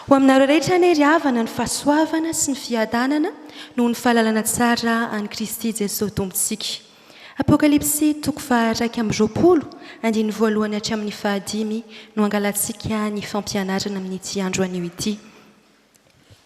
Ho aminareo rehetra anie ry havana ny fahasoavana sy ny fiadanana noho ny fahalalana tsara an'i Kristy Jesoa Tompontsika. Apokalypsy toko faha iraika amby roapolo andininy voalohany hatramin'ny faha dimy no angalantsika ny fampianarana amin'ity andro anio ity.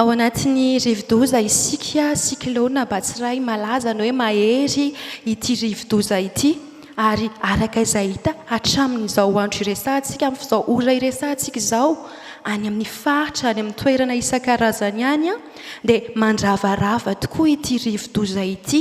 Ao anatin'ny rivodoza isika, cyclone, Batsirai malaza ny hoe mahery ity rivodoza ity ary araka izay hita hatramin'izao andro iresahantsika, amin'izao ora iresahantsika izao, any amin'ny faritra, any amin'ny toerana isan-karazany any dia mandravarava tokoa ity rivodoza ity.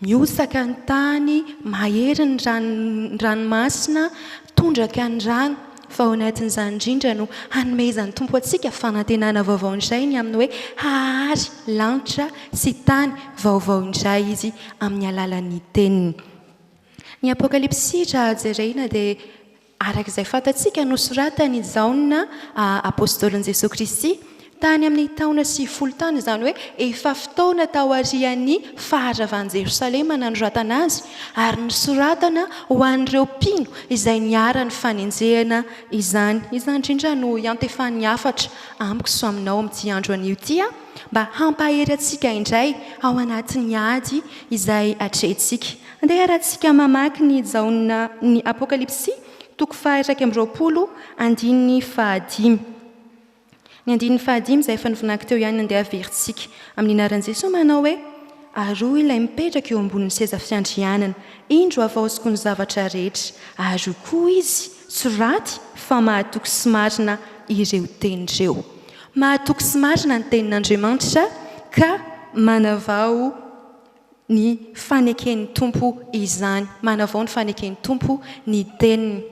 Miosaka ny tany, mahery ny ny ranomasina, tondraka ny rano, fa ao anatin'izany indrindra no hanomezan'ny Tompo antsika fanantenana vaovao indray ny amin'ny hoe hahary lanitra sy tany vaovao indray Izy amin'ny alalan'ny Teniny. Ny Apokalypsy raha jerena dia Araka izay fantatsika, nosoratan' i Jaona, apôstôlin'i Jesoa Kristy, tany amin' ny taona sivifolo tany, izany hoe efa fotoana taorian' ny faharavan' i Jerosalema nanoratana azy, ary nosoratana ho an' ireo mpino izay niharan' ny fanenjehana izany. Izany indrindra no iantefan' ny hafatra amiko sy aminao amin' ity andro anio ity, mba hampahery antsika indray ao anatin' ny ady izay atrehintsika. Andeha haratsika mamaky ny Jaona ny Apokalypsy, toko faha-iraika amby roapolo, andininy fahadimy. Ny andininy fahadimy izay efa novinako teo ihany no andeha haverintsika. Amin'ny anaran'i Jesoa manao hoe, Ary hoy ilay mipetraka eo ambonin'ny seza fiandrianana, Indro havaoziko ny zavatra rehetra. Ary hoy koa izy, Soraty fa mahatoky sy marina ireo teny ireo. Mahatoky sy marina ny tenin'Andriamanitra ka manavao. ny faneken'ny Tompo izany. Manavao ny faneken'ny Tompo ny Teniny.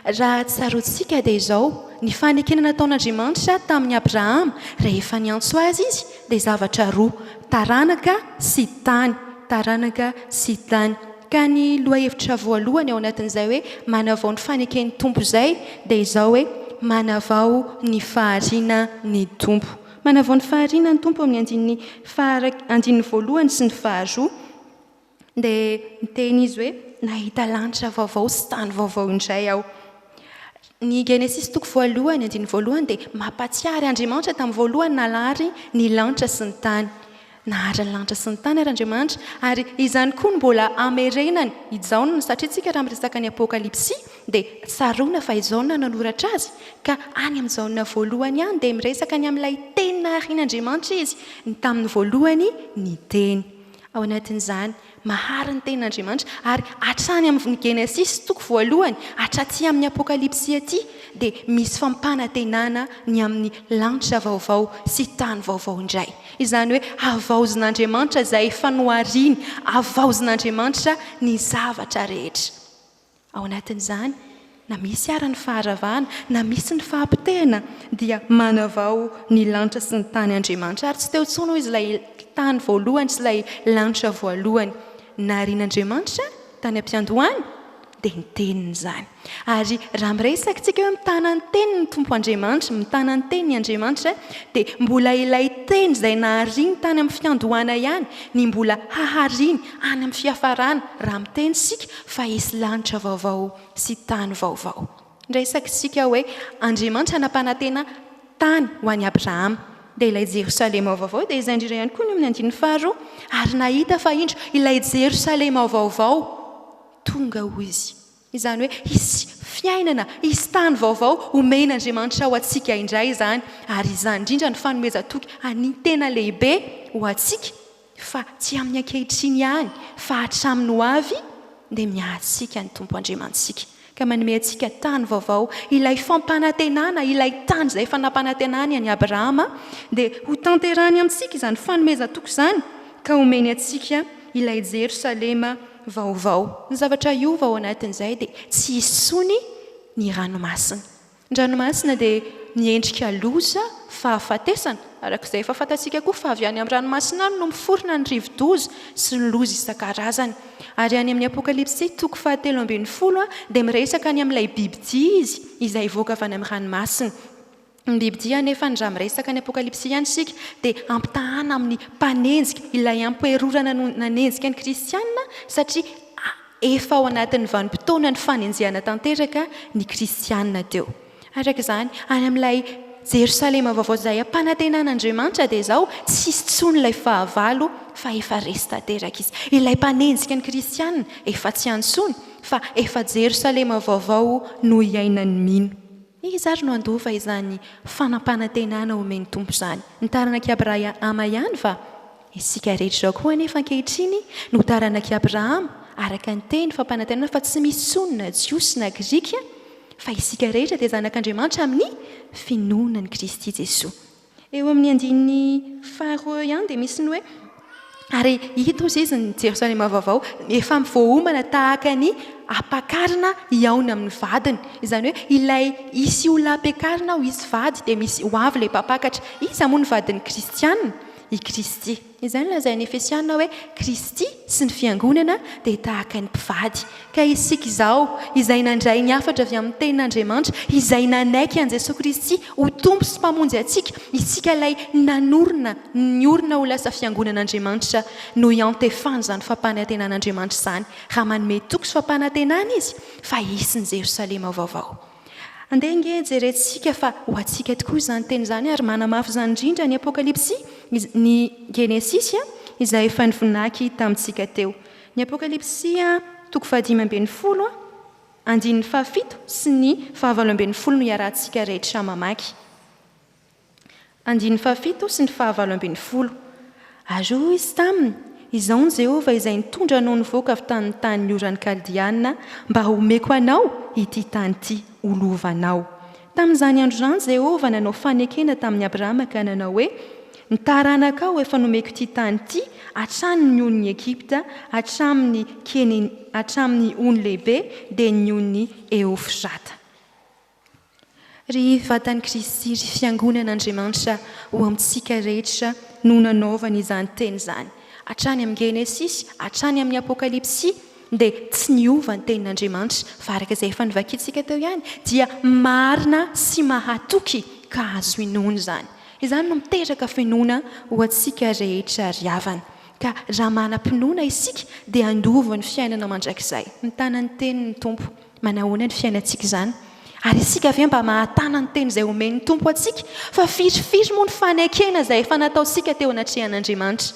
Raha tsaroantsika dia izao, ny fanekena nataon'Andriamanitra tamin'i Abrahama rehefa niantso Azy Izy dia zavatra roa, taranaka sy tany, taranaka sy tany. Ka ny lohahevitra voalohany ao anatin'izay hoe manavao ny faneken'ny Tompo izay dia izao hoe, manavao ny fahariana ny Tompo. Manavao ny fahariana ny Tompo amin'ny andininy faha andininy voalohany sy ny faharoa dia niteny izy hoe nahita lanitra vaovao sy tany vaovao indray aho. Ny Genesisy toko voalohany andininy voalohany dia mampatsiahy ary Andriamanitra tamin'ny voalohany nalahary ny lanitra sy ny tany. Naharitra ny lanitra sy ny tany ary Andriamanitra, ary izany koa no mbola hamerenany i Jaona, satria isika raha miresaka ny Apokalypsy dia tsaroana fa i Jaona no nanoratra azy, ka any amin'ny Jaona voalohany any dia miresaka ny amin'ilay Teny naharian'Andriamanitra izy, ny tamin'ny voalohany ny Teny. Ao anatin'izany. Mahary ny tenin' Andriamanitra, ary hatrany amin' ny Genesisy toko voalohany hatraty amin' ny Apôkalipsy aty dia misy fampanantenana ny amin' ny lanitra vaovao sy tany vaovao indray, izany hoe havaozin' Andriamanitra izay efa nohariny, havaozin' Andriamanitra ny zavatra rehetra. Ao anatin'izany, na misy àry ny faharavana, na misy ny fahapotehana, dia manavao ny lanitra sy ny tany Andriamanitra. Ary tsy teo intsony, hoy izy, ilay tany voalohany sy ilay lanitra voalohany. Narian'Andriamanitra tany am-piandohana dia ny Teniny izany. Ary raha miresaka isika hoe mitana ny Teniny ny Tompo Andriamanitra, mitana ny Teniny Andriamanitra, dia mbola ilay Teny izay nahariany tany amin'ny fiandohana ihany ny mbola hahariny any amin'ny fiafarana, raha miteny isika. fa hisy lanitra vaovao sy tany vaovao. Indray sakintsika hoe Andriamanitra nampanantena tany ho an'i Abrahama. Dia ilay Jerosalema vaovao dia izay indrindra ihany koa ny eo amin'ny andininy faharoa, ary nahita fa indro ilay Jerosalema vaovao tonga ho izy. Izany hoe hisy fiainana, hisy tany vaovao homen'Andriamanitra ho antsika indray izany, ary izany indrindra no fanomezan-toky an'ny tena lehibe ho antsika. Fa tsy amin'ny ankehitriny ihany fa hatramin'ny ho avy dia miahy antsika ny Tompo Andriamanitsika ka manome antsika tany vaovao, ilay fampanantenana, ilay tany izay efa nampanantenany an'i Abrahama, dia ho tanterahany amintsika izany fanomezan-toky izany ka homeny antsika ilay Jerosalema vaovao. Ny zavatra hiova ao anatin'izay dia tsy hisy intsony ny ranomasina. Ny ranomasina dia miendrika loza, fahafatesana, araka izay efa fantatsika koa fa avy any amin'ny ranomasina any no miforona ny rivodoza sy ny loza isan-karazany. Ary any amin'ny Apokalypsy toko fahatelo ambin'ny folo dia miresaka ny amin'ilay bibidia izy izay hivoaka avy any amin'ny ranomasina. Ny bibidia anefa ny raha miresaka ny Apokalypsy ihany isika dia ampitahana amin'ny mpanenjika, ilay ampoherorana no nanenjika ny kristiana satria Efa ao anatin'ny vanim-potoanan'ny fanenjehana tanteraka ny kristiana teo. Araka izany, any amin'ilay Jerosalema vaovao izay ampanantenan'Andriamanitra dia izao tsy hisy intsony ilay fahavalo fa efa resy tanteraka izy. Ilay mpanenjika ny kristiana efa tsy any intsony fa efa Jerosalema vaovao no iainan'ny mino. Iza ary no handova izany fanampanantenana omen'ny Tompo izany? Ny taranak'i Abrahama ihany va? Isika rehetra izao koa anefa ankehitriny no taranak'i Abrahama, araka ny teny fampanantenana fa tsy misy intsony na Jiosy na Grika fa isika rehetra dia zanak'Andriamanitra amin'ny finoana an'i Kristy Jesoa. Eo amin'ny andininy faharoa eo ihany dia misy ny hoe, Ary hita, hoy izy, ny Jerosalema vaovao efa voaomana tahaka ny ampakarina hihaona amin'ny vadiny. Izany hoe ilay hisy olona hampiakarina ho izy vady dia misy ho avy ilay mpampakatra. Iza moa no vadin'ny kristiana? I Kristy. Izany lazain'ny Efesiana hoe Kristy sy ny fiangonana dia tahaka ny mpivady. Ka isika izao, izay nandray ny hafatra avy amin'ny Tenin'Andriamanitra, izay nanaiky an'i Jesoa Kristy ho Tompo sy Mpamonjy antsika, isika ilay nanorina ny orina ho lasa fiangonan'Andriamanitra no iantefany izany fampanantenan'Andriamanitra izany, raha manome toky sy fampanantenana Izy fa hisy ny Jerosalema vaovao. Andeha ange jerentsika fa ho antsika tokoa izany teny izany ary manamafy izany indrindra ny Apokalypsy, ny Genesisy izay efa nivonaky tamintsika teo. Ny Apokalypsy toko fahadimy ambin'ny folo andininy fahafito sy ny fahavalo ambin'ny folo no iarahantsika rehetra mamaky. Andininy fahafito sy ny fahavalo ambin'ny folo. Ary hoy izy taminy, Izao no Jehovah izay nitondra anao nivoaka avy tany ny tanin'ny oran'ny Kaldeanina mba homeko anao ity tany ity ho lovanao. Tamin'izany andro izany Jehovah nanao fanekena tamin'i Abrahama ka nanao hoe, Ny taranakao efa nomeko ity tany ity hatrany ny on'ny Egypta hatramin'ny Kene hatramin'ny ony lehibe dia ny on'i Eofrata. Ry vatan'i Kristy, ry fiangonan'Andriamanitra ho amintsika rehetra no nanaovany izany teny izany. Hatrany amin'ny Genesisy hatrany amin'ny Apokalypsy dia tsy niova ny tenin'Andriamanitra fa araka izay efa novakintsika teo ihany dia marina sy mahatoky ka azo inoana izany. Izany no miteraka finoana ho antsika rehetra ry havana. Ka raha manam-pinoana isika dia handova ny fiainana mandrakizay. Mitana ny tenin'ny Tompo. Manahoana ny fiainantsika izany? Ary isika ve mba mahatana ny teny izay omen'ny Tompo antsika? Fa firifiry moa ny fanekena izay efa nataontsika teo anatrehan'Andriamanitra?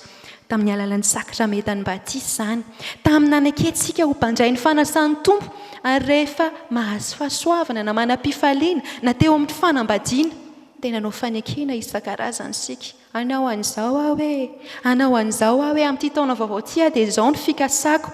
Tamin'ny alalan'ny sakramentan'ny batisa izany, tamin'ny nanekentsika ho mpandray ny fanasan'ny Tompo, ary rehefa mahazo fahasoavana na manam-pifaliana, na teo amin'ny fanambadiana. Dia nanao fanekena isan-karazany isika. Hanao an'izao aho e! Hanao an'izao aho e! Amin'ity taona vaovao ity aho dia izao no fikasako.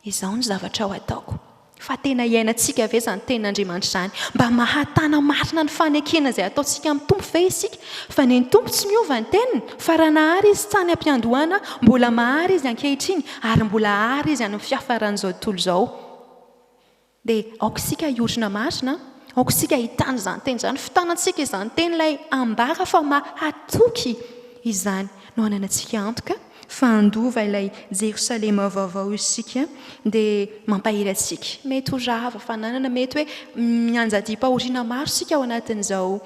Izao no zavatra ho ataoko. Fa tena iainantsika ve izany Tenin'Andriamanitra izany? Mba mahatana marina ny fanekena izay ataontsika amin'ny Tompo ve isika? Fa ny Tompo tsy miova ny Teniny, fa raha nahary Izy tany am-piandohana, mbola mahary Izy ankehitriny, ary mbola hahary Izy any amin'ny fiafaran'izao tontolo izao. Dia aoka isika hiorina marina, aoka isika hitana izany teny izany, fitanantsika izany teny ilay ambara fa mahatoky izany no hananantsika antoka fa handova ilay Jerosalema vaovao isika dia mampahery antsika. Mety ho rava fananana, mety hoe mianjadiam-pahoriana maro isika ao anatin'izao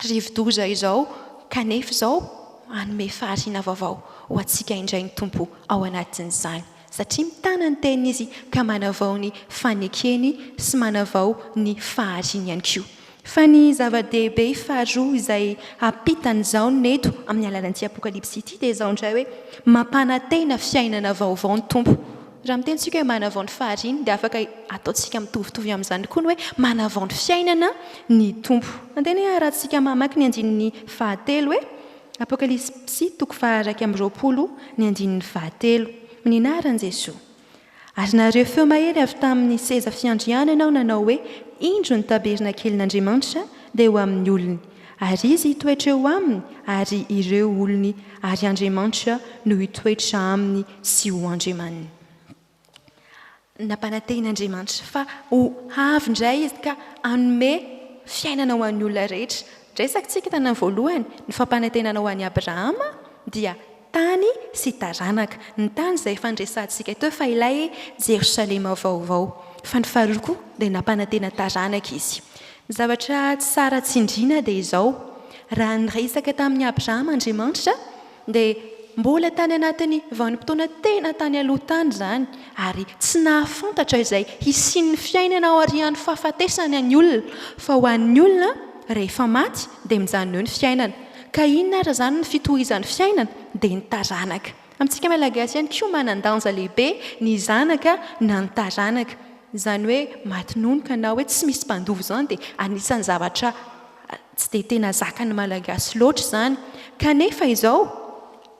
rivodoza izao kanefa izao hanome fahariana vaovao ho antsika indray ny Tompo ao anatin'izany satria mitana ny teniny Izy ka manavao ny fanekeny sy manavao ny fahariany ihany koa. Fa ny zava-dehibe faharoa izay ampitan' izao ny eto amin'ny alalan'ity Apokalypsy ity dia izao indray hoe mampanantena fiainana vaovao ny Tompo Raha miteny isika hoe manavao ny fahariany dia afaka ataontsika mitovitovy amin'izany koa ny hoe manavao ny fiainana ny Tompo. Andeha anie harahantsika mamaky ny andininy fahatelo e! Apokalypsy xi toko faha-iraika amby roapolo ny andininy fahatelo. Mininahara an'i Jesoa. Ary nario feo mahery avy tamin'ny seza fiandrianany aho nanao hoe, Indro ny tabernakelin'Andriamanitra dia ho amin'ny olony, ary Izy hitoetra eo aminy, ary ireo olony ary Andriamanitra no hitoetra aminy sy ho Andriamaniny. Nampanatehin'Andriamanitra fa ho avy indray Izy ka hanome fiainana ho an'ny olona rehetra. Resaka isika tamin'ny voalohany, ny fampanantenana ho an'i Abrahama dia tany sy taranaka. Ny tany izay efa niresahantsika teo fa ilay Jerosalema vaovao. Fa ny faharoa koa dia nampanantena taranaka Izy. Ny zavatra tsara tsindriana dia izao, raha niresaka tamin'i Abrahama Andriamanitra, dia mbola tany anatin'ny vanim-potoana tena tany aloha tany izany ary tsy nahafantatra izay hisian'ny fiainana aorian'ny fahafatesana ny olona fa ho an'ny olona rehefa maty dia mijanona eo ny fiainana ka inona ary izany ny fitohizan'ny fiainana dia ny taranaka amintsika malagasy ihany koa manan-danja lehibe ny zanaka na ny taranaka izany hoe maty nony ka na hoe tsy misy mpandova izany dia anisan'ny zavatra Tsy dia tena zakan'ny Malagasy loatra izany. Kanefa izao,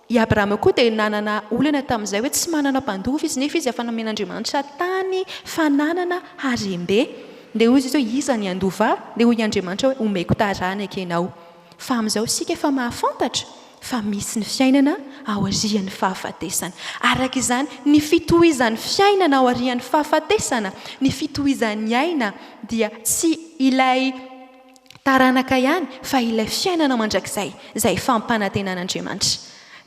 i Abrahama koa dia nanana olana tamin'izay hoe tsy manana mpandova izy, nefa izy efa nomen'Andriamanitra tany, fananana, harem-be. Dia hoy izy hoe, Iza ny handova ahy? Dia hoy Andriamanitra hoe, Homeko taranaka ianao. Fa amin'izao isika efa mahafantatra fa misy ny fiainana aorian'ny fahafatesana. Araka izany, ny fitohizan'ny fiainana aorian'ny fahafatesana, ny fitohizan'ny aina, dia tsy ilay taranaka ihany fa ilay fiainana mandrakizay izay fampanantenan'Andriamanitra.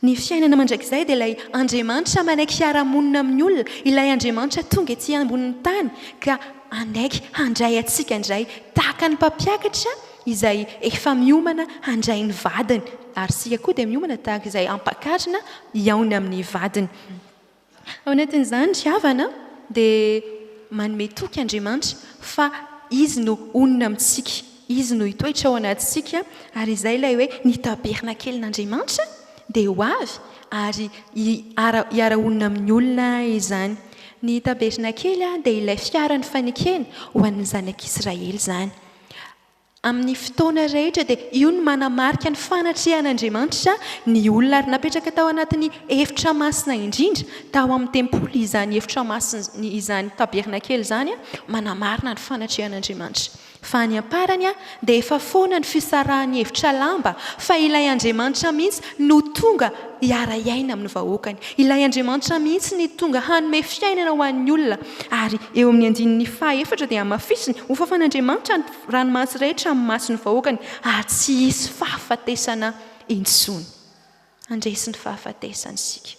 Ny fiainana mandrakizay dia ilay Andriamanitra manaiky hiara-monina amin'ny olona, ilay Andriamanitra tonga ety ambonin'ny tany ka hanaiky handray antsika indray tahaka ny mpampiakatra izay efa miomana handray ny vadiny ary isika koa dia miomana tahaka izay hampakarina hihaona amin'ny vadiny. Ao anatin'izany ry havana dia manome toky Andriamanitra fa Izy no honina amintsika, Izy no hitoetra ao anatintsika ary izay ilay hoe ny tabernakelin'Andriamanitra dia ho avy ary hiara-honina amin'ny olona izany. Ny tabernakely dia ilay fiara nifanekena ho an'ny zanak'Israely izany. Amin'ny fotoana rehetra dia io no manamarika ny fanatrehan'Andriamanitra ny olona ary napetraka tao anatin'ny efitra masina indrindra tao amin'ny tempoly izany efitra masina izany tabernakely izany manamarina ny fanatrehan'Andriamanitra fa any amparany dia efa foana ny fisarahan'ny efitra lamba fa ilay Andriamanitra mihitsy no tonga hiara-hiaina amin'ny vahoakany ilay Andriamanitra mihitsy ny tonga hanome fiainana ho an'ny olona ary eo amin'ny andininy faha efatra dia hamafisiny ho fafan'Andriamanitra ny ranomasy rehetra amin'ny mason'ny vahoakany, ary tsy hisy fahafatesana intsony. Handresy ny fahafatesana isika.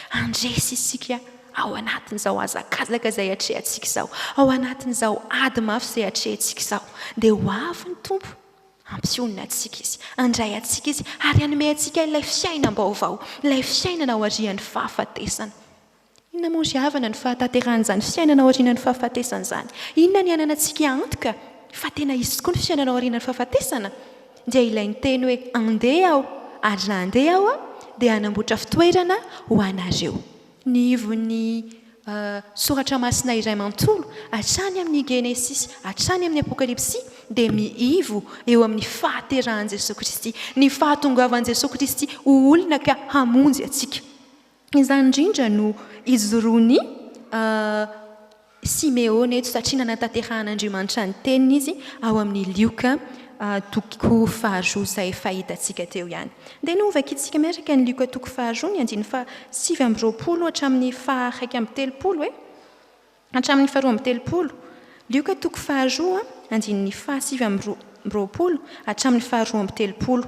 Handresy isika ao anatin'izao hazakazaka izay atrehantsika izao, ao anatin'izao ady mafy izay atrehantsika izao. Dia ho avy ny Tompo, hampionona antsika Izy, handray antsika Izy, ary hanome antsika ilay fiainam-baovao, ilay fiainana aorian'ny fahafatesana. Inona moa ry havana no fahatanterahan'izany fiainana aorianan'ny fahafatesana izany? Inona ny ananantsika antoka fa tena hisy tokoa ny fiainana aorianan'ny fahafatesana? Dia ilay niteny hoe, Andeha Aho, ary raha handeha Aho Aho dia hanamboatra fitoerana ho anareo. Ny ivon'ny soratra masina iray manontolo, hatrany amin'ny Genesisy hatrany amin'ny Apokalypsy, dia miivo eo amin'ny fahaterahan'i Jesoa Kristy, ny fahatongavan'i Jesoa Kristy ho olona ka hamonjy antsika. Izany indrindra no ijoroan'i Simeona eto, satria nanatanterahan'Andriamanitra ny teniny izy ao amin'ny Lioka toko faharoa, izay fahitantsika teo ihany. Dia novakiantsika miaraka ny Lioka toko faharoa, ny andininy fahasivy amby roapolo hatramin'ny faha iraika amby telopolo e. Hatramin'ny faharoa amby telopolo, Lioka toko faharoa andininy fahasivy amby roapolo hatramin'ny faharoa amby telopolo,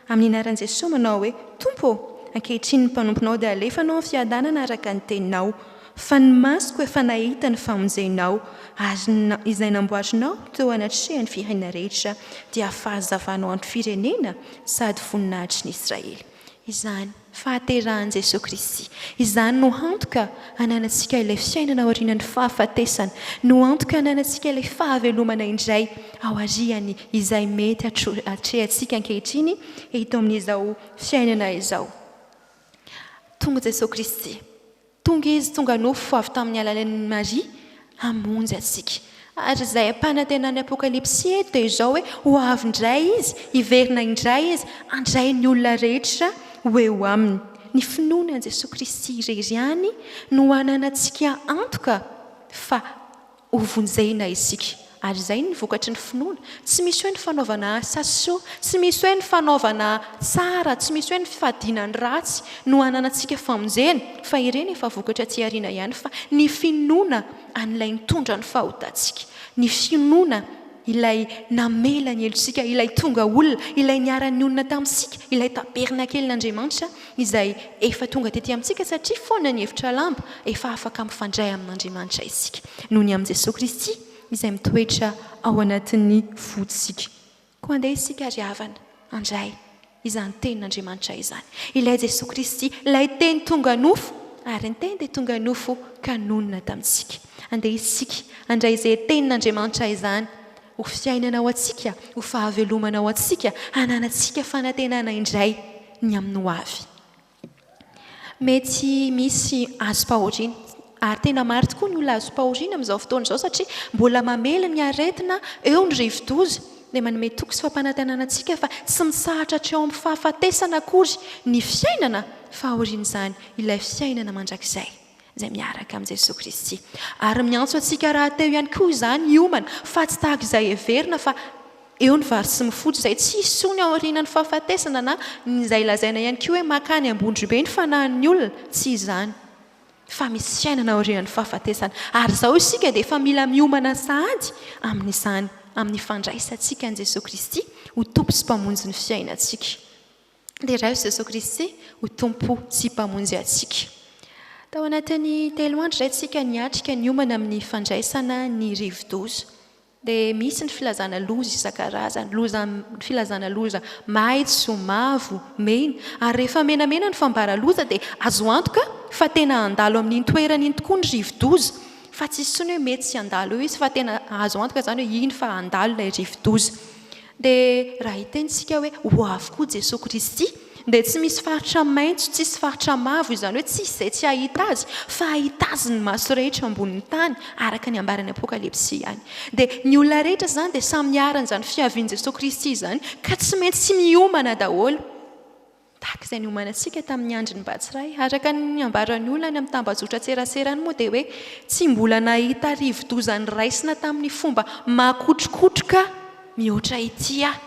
amin'ny anaran'i Jesoa manao hoe, Tompo ô, ankehitriny ny mpanomponao dia alefa anao amin'ny fiadanana araka ny teninao, fa ny masoko efa nahita ny famonjenao, ary ny izay namboarinao teo anatrehan'ny firenena rehetra dia fahazavanao ny firenena sady voninahitry ny Israely. Izany. fahaterahan'i Jesoa Kristy. Izany no antoka ananantsika ilay fiainana aorianan'ny fahafatesana, no antoka ananantsika ilay fahavelomana indray aorian'ny izay mety atrehantsika ankehitriny eto amin'izao fiainana izao. Tonga Jesoa Kristy. Tonga Izy tonga nofo avy tamin'ny alalan'i Maria hamonjy antsika. Ary izay ampanantenan'ny Apokalypsy eto dia izao hoe ho avy indray Izy, hiverina indray Izy, handray ny olona rehetra ho eo Aminy. Ny finoana an'i Jesoa Kristy irery ihany no hananantsika antoka fa Ho vonjena isika. Ary izay ny vokatry ny finoana. Tsy misy hoe ny fanaovana asa soa, tsy misy hoe ny fanaovana tsara, tsy misy hoe ny fifadiana ny ratsy no hananantsika famonjena fa ireny efa vokatra aty aoriana ihany fa ny finoana an'ilay nitondra ny fahotantsika, ny finoana ilay namela ny helotsika, ilay tonga olona, ilay niara-nionona tamintsika, ilay tabernakelin'Andriamanitra. izay efa tonga tety amintsika satria foana ny efitra lamba efa afaka mifandray amin'Andriamanitra isika noho ny amin'i Jesoa Kristy izay mitoetra ao anatin'ny fontsika. Koa andeha isika ary havana handray izany Tenin'Andriamanitra izany. Ilay Jesoa Kristy, ilay Teny tonga nofo, ary ny Teny dia tonga nofo ka nonina tamintsika. Andeha isika handray izay Tenin'Andriamanitra izany ho fiainana ho antsika, ho fahavelomana ho antsika, hananantsika fanantenana indray. ny amin'ny ho avy. Mety misy azom-pahoriana, ary tena maro tokoa ny olona azom-pahoriana amin'izao fotoana izao satria mbola mamely ny aretina eo ny rivodoza, dia manome toky sy fampanantenana antsika fa tsy mitsahatra hatreo amin'ny fahafatesana akory ny fiainana fa aorian'izany ilay fiainana mandrakizay. izay miaraka amin'i Jesoa Kristy. Ary miantso antsika rahateo ihany koa izany hiomana fa tsy tahaka izay heverina fa eo ny vary sy mofo fotsy izay tsy hisy intsony aorianan'ny fahafatesana na ny izay lazaina ihany koa hoe mankany Ambondrobe ny fanahin'ny olona, tsy izany fa misy fiainana aorianan'ny fahafatesana. Ary izao isika dia efa mila miomana sahady amin'izany amin'ny fandraisantsika an'i Jesoa Kristy ho Tompo sy Mpamonjy ny fiainantsika. Deraio i Jesoa Kristy ho Tompo sy Mpamonjy antsika. Tao anatin'ny telo andro izay isika niatrika niomana amin'ny fandraisana ny rivodoza. Dia misy ny filazana loza isan-karazany, loza, filazana loza maitso, mavo, mena. Ary rehefa menamena ny fambara loza dia azo antoka fa tena handalo amin'iny toerana iny tokoa ny rivodoza. Fa tsy hisy intsony hoe mety tsy handalo eo izy fa tena azo antoka izany hoe iny fa handalo ilay rivodoza. Dia raha hiteny isika hoe ho avy koa Jesoa Kristy, dia tsy misy faritra maitso, tsisy faritra mavo, izany hoe tsisy izay tsy hahita Azy, fa hahita Azy ny maso rehetra ambonin'ny tany, araka ny ambaran'ny Apokalypsy ihany. Dia ny olona rehetra izany dia samy hiharan'izany fiavian'i Jesoa Kristy izany, ka tsy maintsy miomana daholo. Tahaka izay niomanantsika tamin'ny andron'ny Batsirai, araka ny niambaran'ny olona any amin'ny tambajotran-tserasera any moa dia hoe tsy mbola nahita rivodoza niraisina tamin'ny fomba makotrokotroka mihoatra ity aho.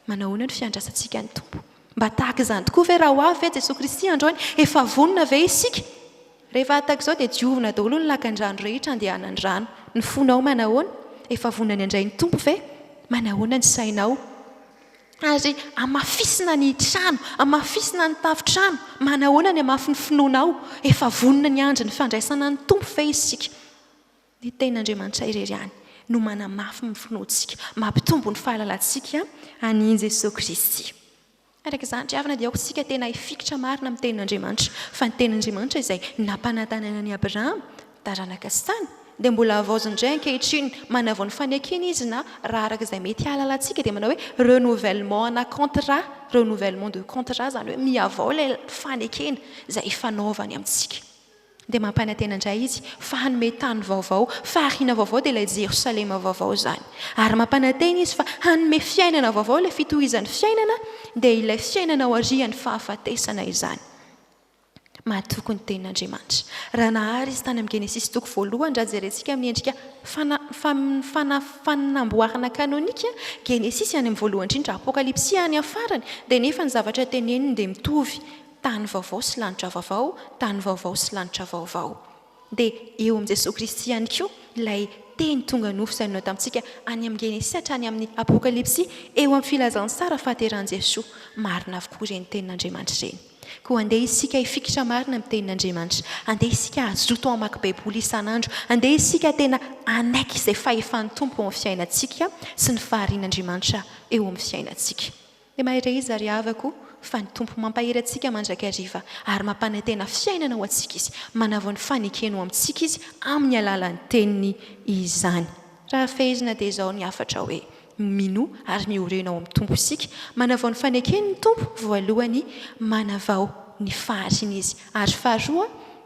Manahoana ny fiandrasantsika ny Tompo? Mba tahaka izany tokoa ve raha ho avy ve Jesoa Kristy androany? Efa vonona ve isika? Rehefa hataka izao dia diovina daholo ny lakandrano rehetra andehanan'ny rano. Ny fonao manahoana? Efa vonona ny handray ny Tompo ve? Manahoana ny sainao? Ary hamafisina ny trano, hamafisina ny tafontrano. Manahoana ny hamafy ny finoanao? Efa vonona ny andron'ny fandraisana ny Tompo ve isika? Ny Tenin'Andriamanitra irery ihany no manamafy ny finoantsika, mampitombo ny fahalalantsika an'i Jesoa Kristy. Araka izany, ry havana, dia aoka isika tena hifikitra marina amin'ny Tenin'Andriamanitra, fa ny Tenin'Andriamanitra izay nampanantenaina an'i Abrahama, Taranaka sy tany, dia mbola havaoziny indray ankehitriny, manavao ny fanekena izy na, raha araka izay mety hahalalantsika, dia manao hoe renouvellement ana contrat, renouvellement de contrat, izany hoe mihavao ilay fanekena izay ifanaovany amintsika. Dia mampanantena indray izy fa hanome tany vaovao, fahariana vaovao, dia ilay Jerosalema vaovao izany. Ary mampanantena izy fa hanome fiainana vaovao, ilay fitohizan'ny fiainana, dia ilay fiainana aorian'ny fahafatesana izany. Mahatoky ny Tenin'Andriamanitra. Raha nahary izy tany amin'ny Genesisy toko voalohany, raha jerentsika amin'ny endrika fana, fana, fanamboarana kanonika, Genesisy any amin'ny voalohany indrindra, Apokalypsy any amin'ny farany, dia nefa ny zavatra teneniny dia mitovy, tany vaovao sy lanitra vaovao, tany vaovao sy lanitra vaovao. Dia eo amin'i Jesoa Kristy ihany koa ilay Teny tonga nofo izay nihaona tamintsika any amin'ny Genesisy hatrany amin'ny Apokalypsy, eo amin'ny Filazantsara fahaterahan'i Jesoa. Marina avokoa ireny Tenin'Andriamanitra ireny. Koa andeha isika hifikitra marina amin'ny Tenin'Andriamanitra. Andeha isika hazoto hamaky Baiboly isan'andro. Andeha isika tena hanaiky izay fahefan'ny Tompo eo amin'ny fiainantsika sy ny faharian'Andriamanitra eo amin'ny fiainantsika. Dia mahay re izy ry havako o, fa ny Tompo mampahery antsika mandrakariva ary mampanantena fiainana ho antsika izy, manavao ny fanekeny ho amintsika izy amin'ny alalan'ny teniny izany. Raha fehezina dia izao ny hafatra hoe, minoa ary miorina ao amin'ny Tompo isika, manavao ny fanekeny ny Tompo, voalohany, manavao ny fahariana izy, ary faharoa,